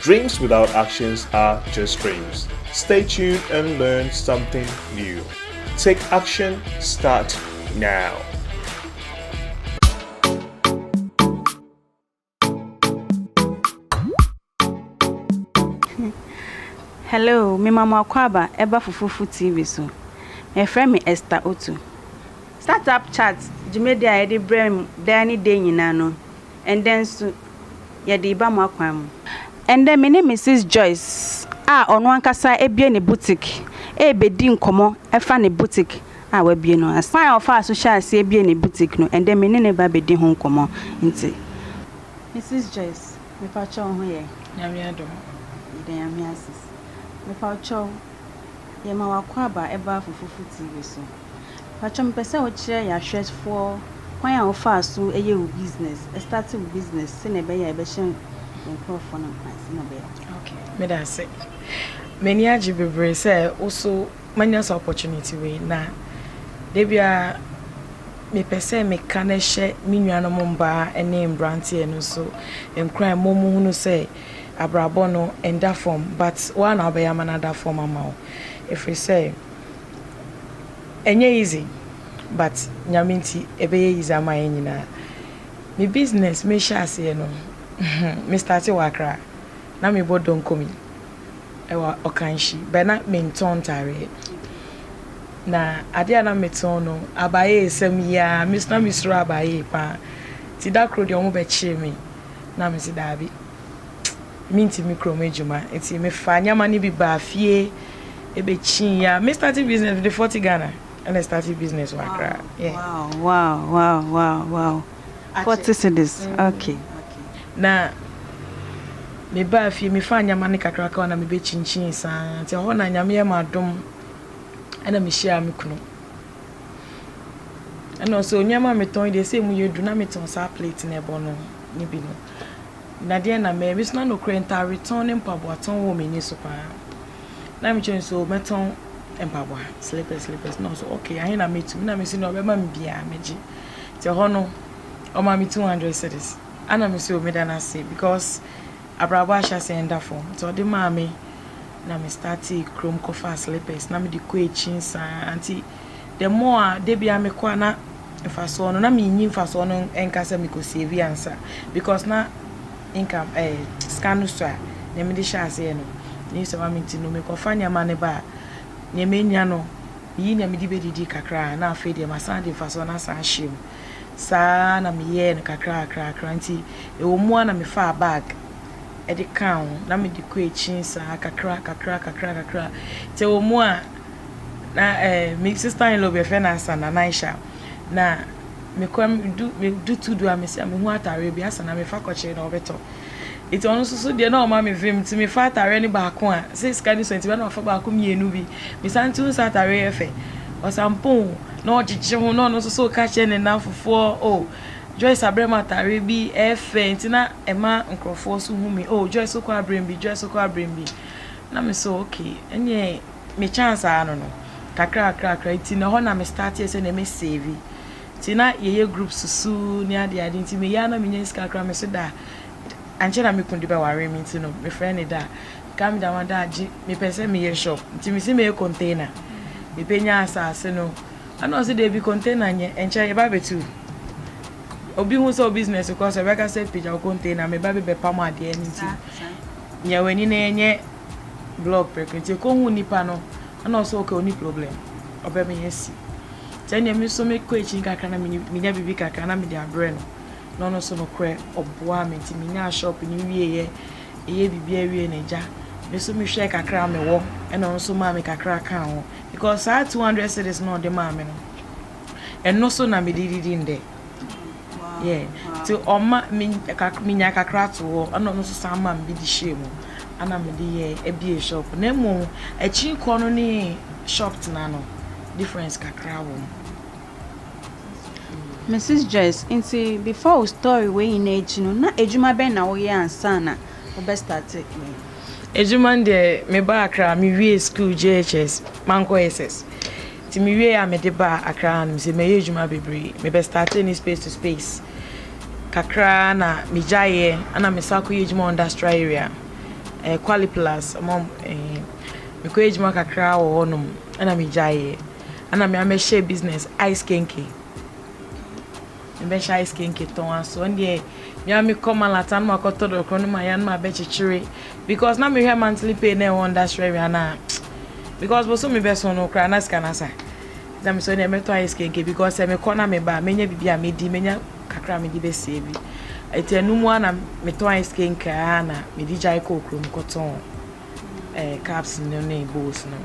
Dreams without actions are just dreams, stay tuned and learn something new, take action start now. Hello, mema mo akwaaba ɛba Fufufu TV so. Mefrɛ me Esther Otu. Startup Chat dwumadi a yɛde brɛ mo daa ne dɛ nyinaa no, Ɛndɛ nso, yɛde reba mo akwan mu. Ɛndɛ, me ne Misus Joyce a ɔno ankasa abue ne butik rebedi nkɔmmɔ fa ne butik a wabue no ase. Kwan a ɔfaa so hyɛɛ aseɛ buee ne butik no, ɛndɛ me ne no reba abedi ho nkɔmmɔ. Nti, Misus Joyce, mepa wo kyɛw wo ho yɛ? Nyame adom. Yɛda Nyame ase. Mepa wo kyɛw, yɛma w'akwaaba ɛbaa Fufufu TV so. Mpakyɛw mepɛ sɛ wo kyerɛ yɛ ahwɛfoɔ kwan a wo faa so yɛ wo business, started wo business sɛnea ɛbɛyɛ a ɛbɛhyɛ nkorɔfoɔ no nkuran sɛnea ɛbɛyɛ a. Okay, meda ase. M'ani agye bebree sɛ wo so manya saa opportunity wei na da biara mepɛ sɛ meka na ɛhyɛ me nuanom mmaa ne mmeranteɛ no nso nkuran ma wɔhunu sɛ abrabɔ no ɛnda fam but wo ara na wobɛyɛ ama no ada fam ama wo ɛfiri sɛ Ɛnyɛ easy but Nyame nti ɛbɛyɛ easy ama yɛn nyinaa. Me business me hyɛ aseɛ no me starte wɔ Accra na me bɔ donkomi ɛwɔ Ɔkanhyi but na me ntɔn ntaareɛ na adeɛ a na me tɔn no abayee sɛm yi ara me na me suro abayee paa nti da koro deɛ ɔmo bɛkyee me na me se daabi mentumi kurom adwuma nti mefaa nneɛma no bi baa fie ɛbɛkyii yɛ a me starting business mede forty Ghana ɛna starting business wɔ Accra. Yeah. Wow, wow, wow, wow, wow. Forty cedis. Mm. Okay, okay. Na mebaa fie mefaa nneɛma no kakraka hɔ na mebɛkyinkyin saa nti ɛhɔ na nyame yɛ ma adom ɛna mehyiaa me kunu ɛna ɔsɛ nneɛma metɔn deɛ sɛ mu yɛ du na metɔn saa plate na ɛbɔ no ne bi no Na deɛn na mɛyɛ? Mesena nokorɛ ntaaretɔn ne mpaboatɔn wɔ m'ani so pa ara. Na mekyerɛ no sɛ, o, mɛtɔn mpaboa, slippers, slippers. Na ɔsɛ, okay, ahe na mɛtumi? Na mese, deɛ ɔbɛma me biara, mɛgye. Nti ɛhɔ no, ɔmaa me two hundred cedis. Ɛna mese, o, meda no ase because abrabɔ ahyɛaseɛ nda fam. Nti ɔde maa me, na me startee kurom kɔfaa slippers, na mede kɔ akyin saa ara. Nti the more a da biara mekɔ a na mfasoɔ no na menyi mfasoɔ no nka sɛ mekɔ save ansa because na income ɛɛ eh, sika no so a nea mede hyɛ aseɛ no ne sɛ wame nti no mekɔfa nneɛma no ba a nea menya no meyi nea mede bɛdidi kakra na afei deɛ masan de mfasoɔ no asan ahyɛ mu saa na meyɛɛ no kakra kakra kakra nti ɛwɔ mu a na mefaa bag ɛde kaa ho na mede kɔ akyi saa kakra kakra kakra kakra sɛ wɔ mu a na eh, me sister in law bi yɛfrɛ no asa na naisha na mekɔ medu medu tu du a mesi a mehu ataareɛ bi asa na mefa kɔkyerɛ na ɔbɛtɔ nti ɔno nso so deɛ na ɔma me vim nti mefa ataareɛ no baako a sɛ sika ne so nti bɛ na ɔfa baako mmienu bi mesan tu nsa ataareɛ yɛ fɛ ɔsampon na ɔgyegye ho na ɔno nso so ka kyerɛ ne nanfofoɔ o oh, Joyce abrɛ ma ataareɛ bi ɛfɛ eh, nti na ɛma nkurɔfoɔ so hu me o oh, Joyce kɔ abrɛ bi Joyce kɔ abrɛ bi na me so okay ɛneɛ me chance ara no no kakra kakra kakra nti na hɔ na me start yɛ sɛ na me save nti na yɛyɛ group susuu ne ade ade nti meyɛ ara na menya sika kakra me so da ankyɛ na me kun de bɛware me nti no mefrɛ ne da ka me da ma da agye mepɛ sɛ meyɛ shop nti mesi meyɛ container mepɛ nya asase no ana ɔse daabi container nyɛ ɛnkyɛ yɛba bɛtu obi hu sɛ o business kɔ so ɛbɛka sɛ pagya wo container meba bɛbɛpam adeɛ no nti nyɛ w'ani na ɛnyɛ block prɛko nti ekohu nipa no na ɔse ok ɔni problem ɔbɛ me asi nti ɛneɛ me nso mekɔ akyi kakra na menya biribi kakra na mede abrɛ no na ɔno nso nokorɛ ɔboa me nti menyaa shop no wieɛ ɛyɛ biribi awie na agya me nso mehwɛɛ kakra mewɔ ɛna ɔno nso maa me kakra kaa ho because saa 200 cities na ɔde maa me no ɛno so na mede didi ndɛ Yeah, nti ɔma me kakra, menya kakra to hɔ, ɛna ɔno nso san ma me bi de hyɛɛ mu, ɛna mede yɛɛ ɛbie shop. Na mmom akyi kɔ no ne shop tena no, difference kakra wɔ mu. Mrs Joyce, nti before wo story wei nyinaa akyi no, na adwuma bɛn na woyɛ ansa na wobɛ start wei? Adwuma no deɛ, mebaa Accra, mewiee school JHS, mankɔ SS. Nti me wiee a me de baa Accra ha nom sɛ mɛyɛ adwuma bebree me bɛ startee ne space to space kakra na me gyaeɛ ɛna me san kɔ yɛ adwuma wɔ industrial area ɛɛ Kwali plus ɔmo ɛɛ me kɔ yɛ adwuma kakra wɔ hɔ nom ɛna me gyaeɛ ɛna me amɛhyɛ business ice kenke. Mebɛhyɛ ice kenke tɔn aso ɛndeɛ me ara me kɔ malata no makɔ tɔ dɔkorɔ no maya no mabɛ kyekyere because na mehwɛ monthly pay na ɛwɔ nda srɛ wia na because boso me bɛso no kora na sika nasa na me so ɛndeɛ mɛtɔ ice kenke because sɛ mekɔ na meba menya bibi a medi menya kakra medi bɛsie bi ɛti ɛno mu a na metɔ ice kenke a na medi gyae kɔ okuro mu kɔtɔn eh, caps no ne bowls no.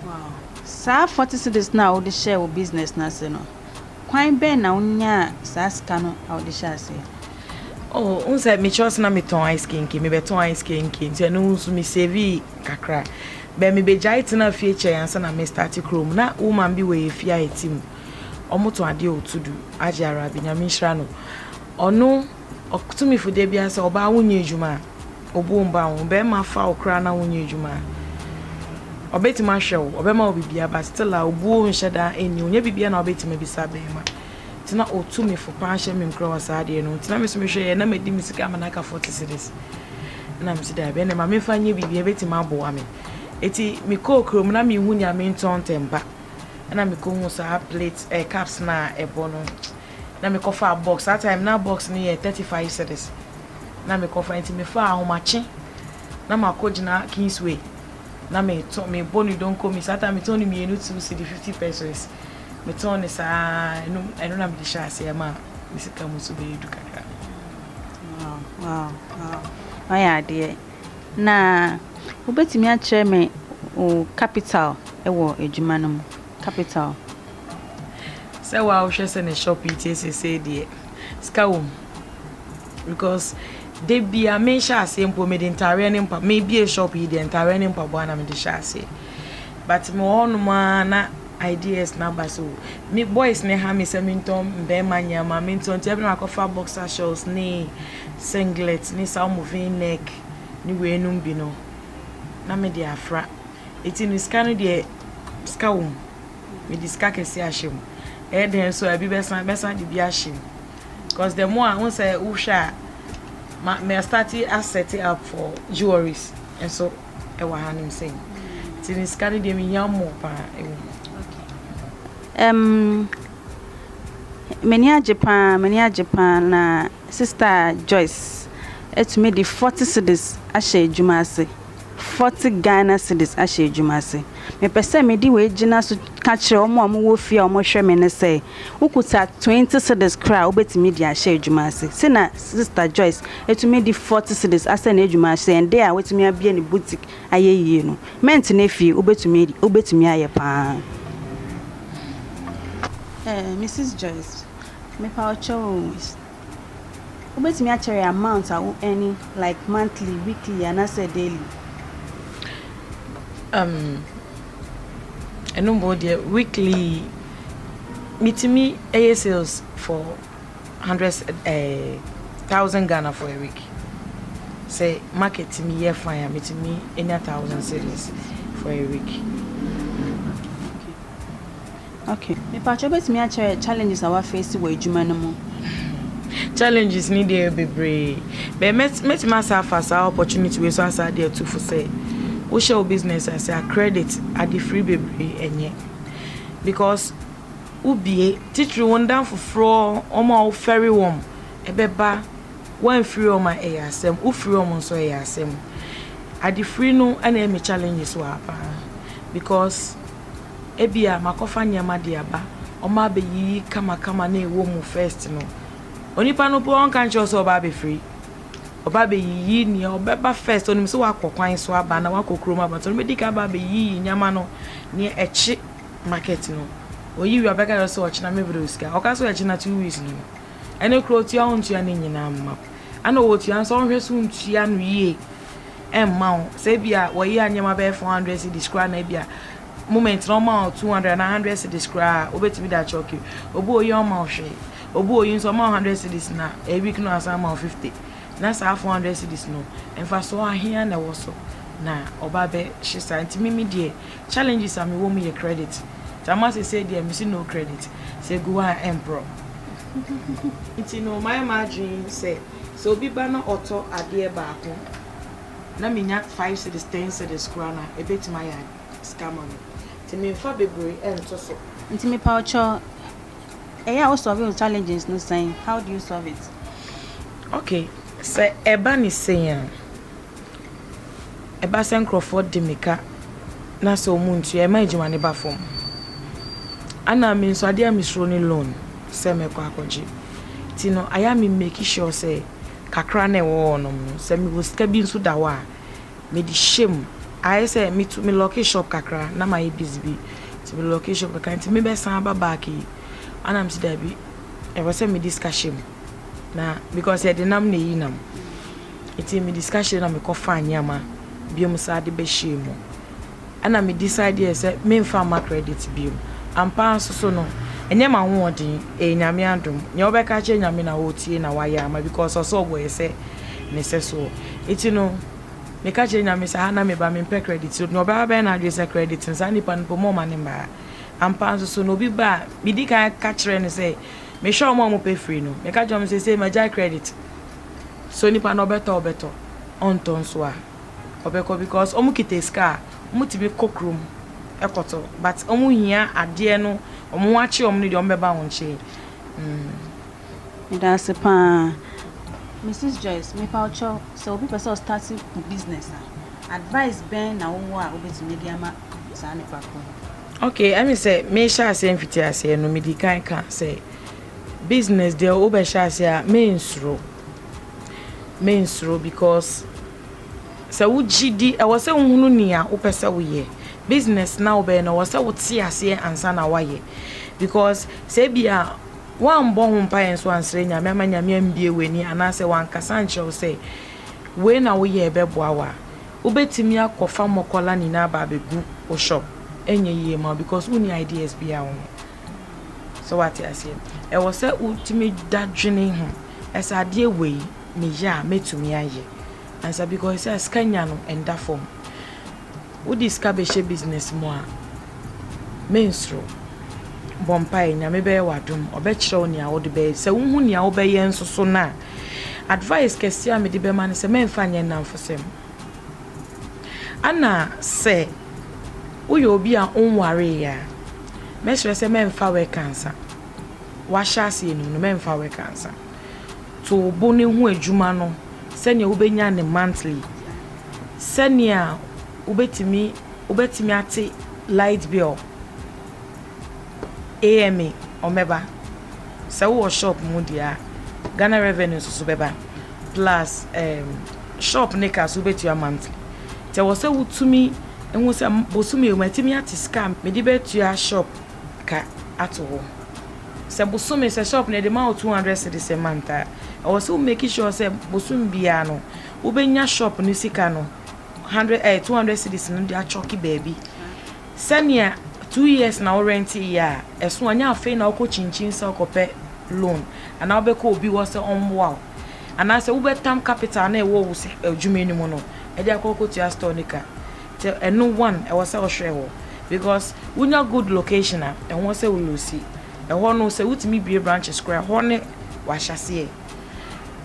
Wow. Saa 40 cedis no a wode hyɛɛ wo business no ase no, Kwan bɛn na wonyaa saa sika no a wode hyɛɛ aseɛ? Oh, wohu sɛ mekyerɛ sɛ na metɔn ice kenke, mebɛtɔn ice kenke nti ɛno nso me savii kakra. Bɛ mebɛgyae tenaa fie kyɛe ansa na mestarte kurom. Na woman bi wɔ yɛ fie a ɛte mu, wɔtɔn adeɛ wɔ Tudu, Agye Arabi, Nyame nhyira no. Ɔno. Ɔtumifo da biara sɛ, Ɔbaa wonyɛ adwuma a, obuo mma wo. Ɔbarima fa wo koraa na wonyɛ adwuma a, ɔbɛtumi ahwɛ wo, ɔbɛma wo biribiara, but still a obuo nhyɛ da nni hɔ. Nyɛ biribiara na wobɛtumi abisa barima. Nti na ɔtumifo paa hyɛ me nkura wɔ saa adeɛ no ho. Nti na me nso mehwɛ yɛ, na madi me sika ama no aka 40 cedis. Ɛna mese daabi, ɛnna ma memfa nyɛ biribi, ɛbɛtumi aboa me. Nti mekɔɔ kurom, na menhu nea mentɔn ntɛmpa. Ɛna mekɔhuu saa plate, ɛɛ cups no a ɛbɔ no. na me kɔ faa box saa time na box no yɛ thirty five cedis na me kɔ fa nti me faa ahomakye na ma kɔ gyina kingsway na me tɔ me bɔ ne donko mi saa time me tɔn ne mmienu two cedi fifty pesos me tɔn ne saa ɛno ɛno na me de hyɛ aseɛ ma me sika mu so bɛyɛ du kakra. Wow, wow, wow. Ɔyɛ adeɛ. Na wobɛtumi akyerɛ me wo capital wɔ adwuma no mu? Capital. Sɛ waa wo hwɛ sɛ ne shop yi tie sesei deɛ sika wɔ mu because da bia me hyɛ aseɛ mpo me de ntaareɛ ne mpa me bie shop yi deɛ ntaareɛ ne mpaboa na me de hyɛ aseɛ but me wɔ hɔ nom ara na ideas na aba so me boys ne ha me sɛ me ntɔn mbɛɛma nneɛma me ntɔn nti ɛbi na akɔfa boxer shorts ne singlet ne saa ɔmo vin neck ne wei nom bi no na me de afra. Enti no sika no deɛ sika wɔ mu. Mede sika kɛseɛ ahyɛ mu. Ɛyɛ dɛn nso a ebi bɛsan mɛsan de bi ahyɛ mu. Because the more a wohu sɛ wohwɛ a ma mɛ start asset up for jewelries nso ɛwɔ ha nom sɛn. Enti no sika no deɛ mehia more paa ɛwɔ mu. Um, m'ani agye paa, m'ani agye paa na. Sista Joyce atumi de forty cedis ahyɛ adwuma ase, forty Ghana cedis ahyɛ adwuma ase. Mepɛ sɛ mede wei gyina so ka kyerɛ wɔn a wɔwɔ fie a wɔhwɛ me no sɛ, wokuta twenty cedis koraa a, wobɛtumi de ahyɛ adwuma ase. Sei na Sista Joyce atumi de forty cedis asɛ n'adwuma ase, ɛnde a watumi abue ne boutique ayɛ yie no. Mɛntena fie, wobɛtumi wobɛtumi ayɛ pa ara. Ɛɛ, Misis Joyce, Mepa wo kyɛw o. Wobɛtumi akyɛrɛ amount a wo earn like monthly, weekly anaasɛ daily? Um, ɛno mbɔ deɛ weekly metumi ɛyɛ sales for hundred ɛɛ eh, thousand Ghana for a week. Sɛ market tumi yɛ fine a metumi enya thousand cedis for a week. Ok mepakyɛ wobɛtumi akyerɛ challenges a wafeesi wɔ adwuma no mu. Challenges ne deɛ bebree bɛ mɛtumi asa afa saa opportunity wei so asa de atu fo sɛ wohyɛ wo business ase a credit adefiri bebree ɛnyɛ because wobie titiri wo ndan foforɔ wɔn a wofɛre wɔn ɛbɛba woamfiri wɔn a ɛyɛ asɛm wofiri wɔn nso ɛyɛ asɛm adefiri no ɛna ɛmi challenges wɔ ha paa because. Ebia makɔfa nneɛma de aba, ɔma abeyiyi kamakama na ɛwɔ mu first no, onipa no po ɔnka nkyerɛ wo sɛ ɔba abɛfiri. Ɔba abɛyiyi nea ɔbɛba first, ɔnim sɛ wakɔ kwan so aba na wakɔ kurom aba, nti ɔno bɛdi ka aba abɛyiyi nneɛma no, nea ɛkye market no. Ɔyi wie a ɔbɛka kyerɛ sɛ ɔkyena me brɛ wo sika. Ɔka sɛ ɔkyena two weeks no no, ɛno koraa ɔtua wontua ne nyinaa mma wo. Ɛna ɔtua nso ɔnhwɛ sɛ wontua no yie ɛmma wo. Sɛ ebi a wɔyɛ nneɛma bɛyɛ four hundred cedis koraa na ebi a moment na ɔma wo two hundred anaa hundred cedis koraa a wobɛtumi de akyɛ ɔkiri. Obi oyi ɔma wo hwee. Obi oyi nso ɔma wo hundred cedis na a week no asan ama wo fifty. Na saa four hundred cedis no mfasoɔ ahea na ɛwɔ so na ɔba bɛhye saa nti me me deɛ challenges a mewɔ mu yɛ credit. Nti ama sesei deɛ mese no credit sɛ gu hɔ a ɛmporɔ. Nti no mayɛ m'adwene sɛ. Sɛ obi ba na ɔtɔ adeɛ baako na menya five cedis, ten cedis koraa no a, ɛbɛtumi ayɛ ade, sika ama me. Nti memfa bebree nto so. Nti mepawkyɛw ɛyɛ a wo solve wo challenges no sɛn? How do you solve it? Okay, sɛ ɛba ne sei a. Ɛba sɛ nkorɔfoɔ de me ka na sɛ ɔmo ntua ɛma adwuma no ba fam. Ana me nso adeɛ a me suro ne loan sɛ mɛkɔ akɔgye. Nti no ayɛ a me make sure sɛ kakra no a ɛwɔ hɔ nom no sɛ mewɔ sika bi nso da hɔ a mede hyɛ mu. Ayɛ sɛ me tu me lɔke shop kakra na mayɛ busy bi nti me lɔke shop kakra nti me bɛsan aba back yi. Ana me se dabi ɛwɔ sɛ mede sika hyɛ mu na because ɛdenam na ɛyi nam. Ntsi mede sika hyɛɛ mu na mekɔfaa ndzɛmba binom saa dze bɛhyɛɛ mu. Nna me decide yɛɛ sɛ memmfa mma credit bio. Ampa ara so so no, nnyɛ m'ahoɔdzen, eye Nyame adom. Nyia wɔbɛka akyerɛ Nyame na otsie na ɔayɛ ama because ɔsɛ ɔbɔ yɛ sɛ Ne sɛsoɔ. Ntsi no, meka kyerɛ Nyame sɛ ha na meba, memmpɛ credit. Nyia ɔbɛba abɛyɛ n'adwen sɛ credit no, saa nyimpa no mpo mma ɔmma no mba ha. Ampa ara so so no, obi ba a, midzi kan ka kyerɛ no sɛ mehwɛ hɔn a wɔpɛ fir no, meka kyerɛ hɔn sɛ seisei magyae credit. So onipa no ɔbɛtɔ a ɔbɛtɔ ɔntɔ nso a ɔbɛkɔ because ɔmo kita sika a ɔmo tumi kɔ kurom kɔtɔ but ɔmo hia adeɛ no ɔmo ho akye ɔmo no deɛ ɔmo bɛba wo nkyen. Medase paa Misis Joyce mepaw kyɛw sɛ obi pɛ sɛ ɔstarte business a advice bɛn na wowɔ a wobɛtumi de ama saa nipa korɔ no. Okay ɛmi sɛ mehyɛ aseɛ mfitiaseɛ no medi kan ka sɛ. Business deɛ wo bɛhyɛ aseɛ a me nsuro me nsuro because sɛ wo gyidi ɛwɔ sɛ wo hunu nea wo pɛ sɛ wo yɛ business na wo bɛyɛ na ɛwɔ sɛ wo te aseɛ ansa na wa yɛ because sɛ bi a wan bɔ ho mpa yɛn so ansrɛ nyame ama nyame ambie w'ani anaasɛ wan kasa nkyerɛ wo sɛ wei na wo yɛ ɛbɛ boa wa wo bɛtumi akɔ fa mɔkɔla nyinaa ba abɛgu wo shop ɛnyɛ yie ma because wo ni ideas bi a wo ho So wate aseɛ? Ɛwɔ sɛ wotumi da dwene ho sɛ adeɛ wei meyɛ a mɛtumi ayɛ ansa because sɛ sika nya no ɛnda fam. Wode sika bɛhyɛ business mu a mensuro. Bɔ mpaeɛ Nyame bɛyɛ wo adom ɔbɛkyerɛ wo nea wode bɛyɛ sɛ wohu nea wobɛyɛ nso so no a advice kɛseɛ a mede bɛma no sɛ mɛmfa nyɛ nnamfosɛm. Ana sɛ woyɛ obi a wonwaree a, mɛsrɛ sɛ mɛmfa wɛk ansa. Wahyɛ ase anim no, mɛmfa wɛk ansa. To wo bo no ho adwuma no sɛnea wobɛnya ne monthly, sɛnea wobɛtumi wobɛtumi ate light bill. AMA, ɔmbɛba, sɛ wowɔ shop mu deɛ a, Ghana revenue nso so bɛba, plus um, shop ne ka so wobɛtua monthly, nti ɛwɔ sɛ wotumi hu sɛ bosome matumi ate sika a mede bɛtua shop ka ato hɔ, sɛ bosome sɛ shop no ɛde ma wo 200 cedis a month a, ɛwɔ sɛ wo make sure sɛ bosome biara no wobɛnya shop no sika no 100 eh, 200 cedis no de achɔke baabi. Sɛnea two years na wo rent yɛ a ɛso a nyɛ afei na wokɔ kyinkyin sɛ wokɔpɛ loan anaa wobɛkɔ obi hɔ sɛ ɔmmoa wo anaasɛ wobɛtam capital na ɛwɔ wo adwuma no mu no ɛde akɔ akɔtua store no ka nti ɛno one ɛwɔ sɛ wohwɛ hɔ because wonya good location a ɛho sɛ wo losi ɛhɔ no sɛ wotumi bie branches koraa ɛhɔ ne wahyɛseɛ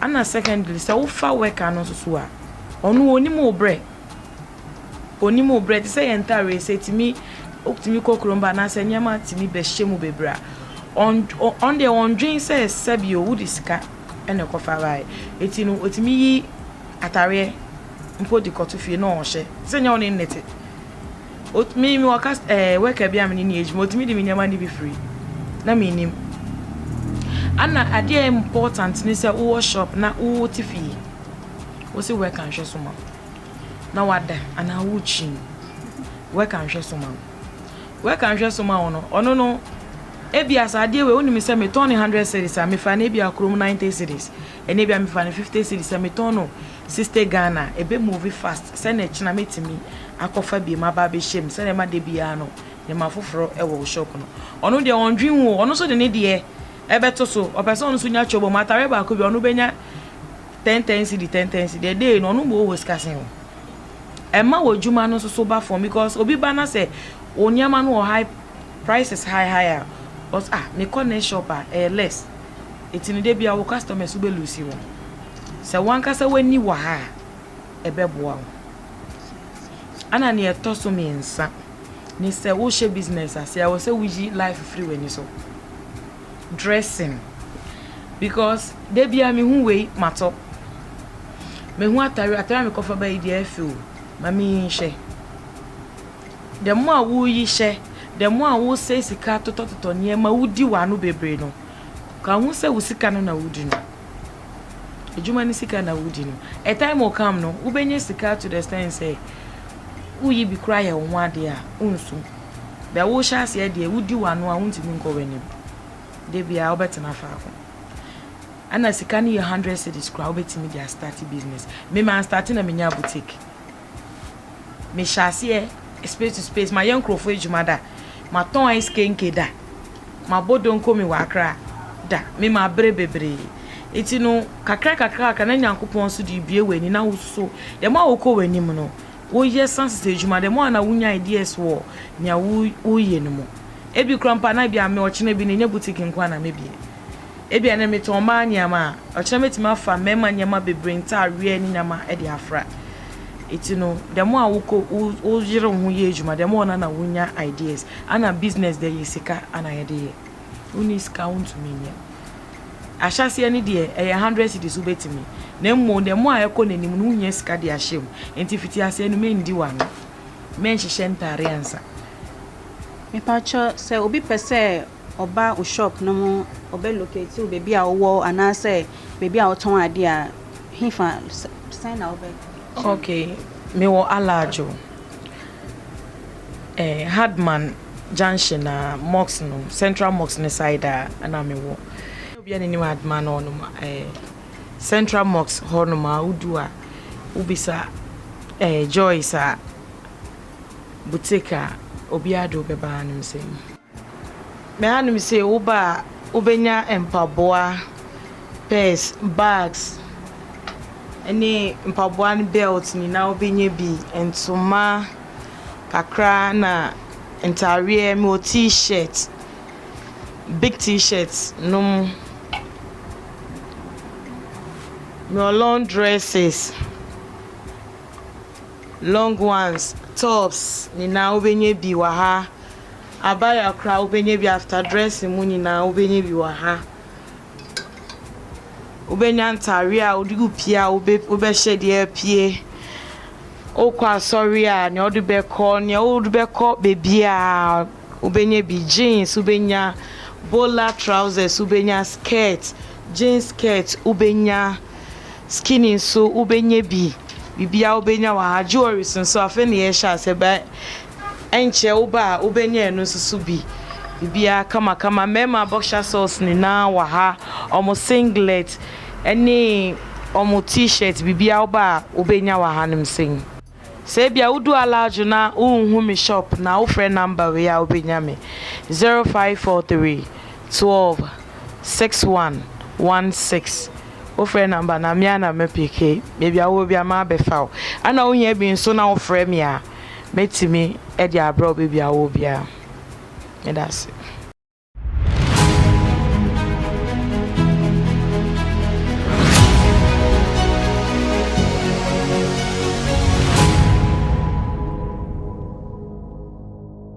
ana secondly sɛ wofa worker no nso so a ɔno onim wo brɛ Onim wo berɛ te sɛ yɛn ntareɛ sɛ ɛtumi wotumi kɔ kurom ba anaasɛ nneɛma tumi bɛhyɛ mu bebree a ɔn ɔn deɛ ɔndwen sɛ sɛbi o wode sika ɛna ɛkɔfa baeɛ ɛti no ɔtumi yi atareɛ mpo de kɔto fie na ɔhyɛ te sɛ nyɛ wo ne nnete ɔtumi mi wɔ kas ɛɛ wɛka bi a mene ne adwuma ɔtumi de me nneɛma no bi firi na menim ana adeɛ important ne sɛ wowɔ shop na wote fie wo se wɛka nhwɛ so ma na wada anaa worekyin no, wɔka nhwɛso ma wo. Wɔka nhwɛso ma wo no, ɔno no, ebia sɛ adeɛ wei wonim sɛ metɔn no hundred cities a mefa no ebia kurom ninety cities, ɛnna ebia mefa no fifty cities a metɔn no sixty Ghana a, ebe move fast sɛ na ɛkyina metumi akɔfa biem aba abɛhyɛ mu sɛdeɛ ɛma da biara no nneɛma foforɔ wɔ wo shop no. Ɔno deɛ ɔndwen wo, ɔno nso de ne deɛ ɛbɛto so, ɔpɛ sɛ ɔno nso nya kyɛw bɔ mu, atare baako bi ɔno bɛnya Ten ten cedi ten ten cedi ɛdɛ yi no ɔno mmɔ wɔ sikasen o ɛma wɔ adwuma no nso so ba fam because obi ba na sɛ wɔ nneɛma no wɔ high prices high high a ɔs ah mekɔ ne shop a ɛyɛ less eti no de bia wɔ customers wobɛ lose wɔn sɛ wankasa w'ani wɔ ha a ɛbɛboa wo ana nea ɛtɔ so mmiɛnsa ne sɛ wohyɛ business ase a wɔ sɛ woyi life firi w'ani so. dressing because dabiaa me hu wei matɔ me hu atare atare a me kɔfa bayi deɛ ɛfɛ o ma me yi nhyɛ the more a wo yi hyɛ the more a wo sɛ sika totɔtotɔ nneɛma wo di wano bebree no ka ho sɛ wo sika no na wo di no adwuma ne sika na wo di no a time will come no wobɛnya sika to the extent sɛ woyi bi kora yɛ wo ho adeɛ a wonsu Bɛ wohyɛ aseɛ deɛ wodi w'ano a wontumi nkɔ w'anim. Da biara wobɛtena faako. Ɛna sika no yɛ hundred cedis koraa wobɛtumi de astarte business. Me ma astarte na menyaa boutique. Mehyɛ aseɛ space to space mayɛ nkurɔfoɔ adwuma da. Matɔn ice kenke da. Mabɔ donko me wɔ Accra da. Me ma abrɛ bebree. Nti no kakra kakra kakra na Nyankopɔn nso de rebue w'ani na wo nso dɛm a wokɔ w'anim no Woyɛ san sesa edwuma dɛm a na wunya ideas wɔ nea woreyɛ no mu. Ebi koraa mpo a na ebia me ɔkyena bi no nnyɛ boutique nko ara na mebue. Ebia nnɛ metɔn mmaa nneɛma a, ɔkyena metumi afa mmarima nneɛma bebree, ntadeɛ ne nneɛma de afra. Enti no, dɛm a wokɔ woyere wo ho yɛ adwuma dɛm a ɔno na wunya ideas. Ana business deɛ ɛyɛ sika na yɛde yɛ. Wonni sika a wontumi nyɛ. Ahyɛaseɛ no deɛ, ɛyɛ hundred cedis wobɛtumi, na mmom the more a ɛkɔ n'anim no, wohia sika de ahyɛ mu. Nti fitiaseɛ no mendi w'ano, menhyehyɛ ntaare ansa. Mepakyɛ sɛ obi pɛ sɛ ɔba wo shop no mu ɔbɛ locate wo baabi a wowɔ anaasɛ baabi a wotɔn adeɛ a, hefa sɛn na wobɛ kyerɛ no? Okay, mewɔ Alajo. eh, Hardman junction a, mosque no, Central Mosque no side a ɛna mewɔ. Obiara ne nim Hardman hɔ nom eh, Central Mosque hɔ nom a wodu a, wobisa eh, Joyce a, boutique a, obiara de wobɛba anom sɛ mu. Me hanom sei wo ba a wobɛnya mpaboa, purse, bags ɛne mpaboa no belt nyinaa wobɛnya bi, ntoma kakra na ntaadeɛ me wɔ t-shirt, big t-shirt nom, me wɔ long dresses, long ones, tops nyinaa wobɛnya bi wɔ ha. abaya koraa wobɛnya bi after dressing mu nyinaa wobɛnya bi wɔ ha wobɛnya ntaareɛ a wode wo pie a wobɛhyɛ deɛ apue wokɔ asɔre a nea wode bɛkɔ nea wode bɛkɔ baabiaa wobɛnya bi jeans wobɛnya bola trousers wobɛnya skirt jeans skirt wobɛnya skinny nso wobɛnya bi biribiaa wobɛnya wɔ ha jewelries nso afei na yɛhyɛ ase bɛ ɛnkyɛ wo ba a wobɛnya ɛno nso so bi biribiara kamakama mmarima boxer shorts nyinaa wɔ ha wɔn singlet ɛne wɔn t-shirt biribiara wo ba a wobɛnya wɔ hanom sɛn. Sɛ ebia wodu Alajo na wonhu me shop na wofrɛ number wei a wobɛnya me, zero five four three twelve six one one six wofrɛ number no a me ara na mɛpeke, baabi a wowɔ biara mɛabɛfa wo ɛna wohia bi nso na wofrɛ me a. mɛtumi de abrɛ wo baabi a wowɔ biara. Meda ase.